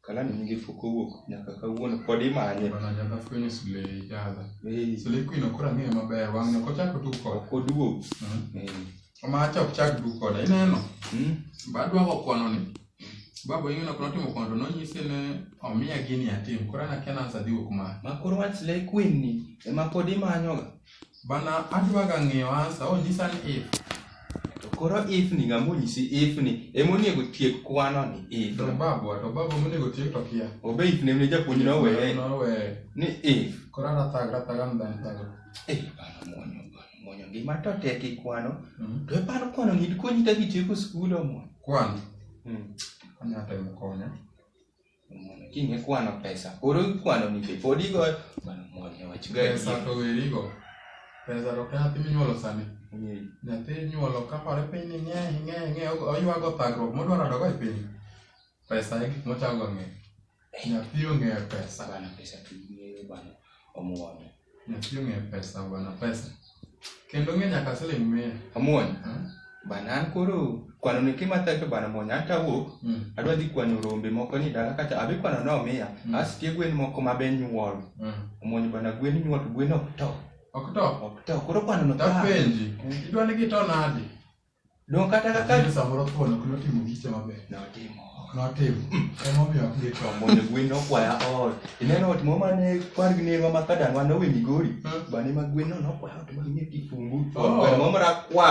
Kalani nigi fuko wuok nyaka kawuono pod imanye. Bana nyaka fwenyo sule jadha. Ee. Sule kwino kora ng'eyo maber wang' nyoko chako tuk kod. Ok oduog. Ee. Omacha ok chak tuk koda ineno. Mm. Badwako kwano ni. Babo ing'eno kono timo kwano to nonyise ne omiya gini atim. Kora na kena ansa dhi wuok ma. Ma koro wach sule kwin ni ema pod imanyoga. Bana adwa ga ng'eyo ansa, onyisa ni if. To koro if ni ng'ama onyisi if ni ema onego tiek kwano ni if. To babwa, to babwa monego tiek to kia. Obe if ne japuonj no weye. No weye. Ni if. Koro ana thag, thag am dan thag. Eh, bana mwonyo, bana mwonyo. Gima to tek ikwano. Mm. To epano kwano ng'id konyi kaka itieko skul omo. Kwano. Mm. Anya temo konya. Mwana, kiny ikwano pesa koro ikwano ni be pod igoyo mano mwana wach ga pesa to werigo pesa to ok nyathi minyuolo sani nyathi inyuolo kapare piny ni ng'e ng'e ng'e oywago thagruok modwaro dogo e piny pesa e gik mochago ng'e nyathi ong'eyo pesa bana pesa tumiyo bana omwono Nyathi ong'e pesa bwana pesa. Kendo ng'e nyaka siling mia. Amuon. Hmm? Bana an koro kwano ni kima tacho bana muon an tawuok. Hmm. Adwa dhi kwano rombe moko ni dala kacha abi kwano no mia. Hmm. Astie gwen moko ma ben nyuol. Hmm. Amuon bana gwen nyuol gwen ok to. Ok to. Ok to. Koro kwano no. Tapenji. Hmm. Idwa ni gito nadi? Donge kata kaka Lakini samoro thuon ok notimo giche maber. notimo Ok notimo. Emomiyo ok githo. omonjo gwen nokwaya ot ineno ot moro mane kwar gi nerwa ma kadangwa nowe migori Hmm. bane ma gwen no nokwaya ot mang'e kifungu Oh. gweno moro rakwar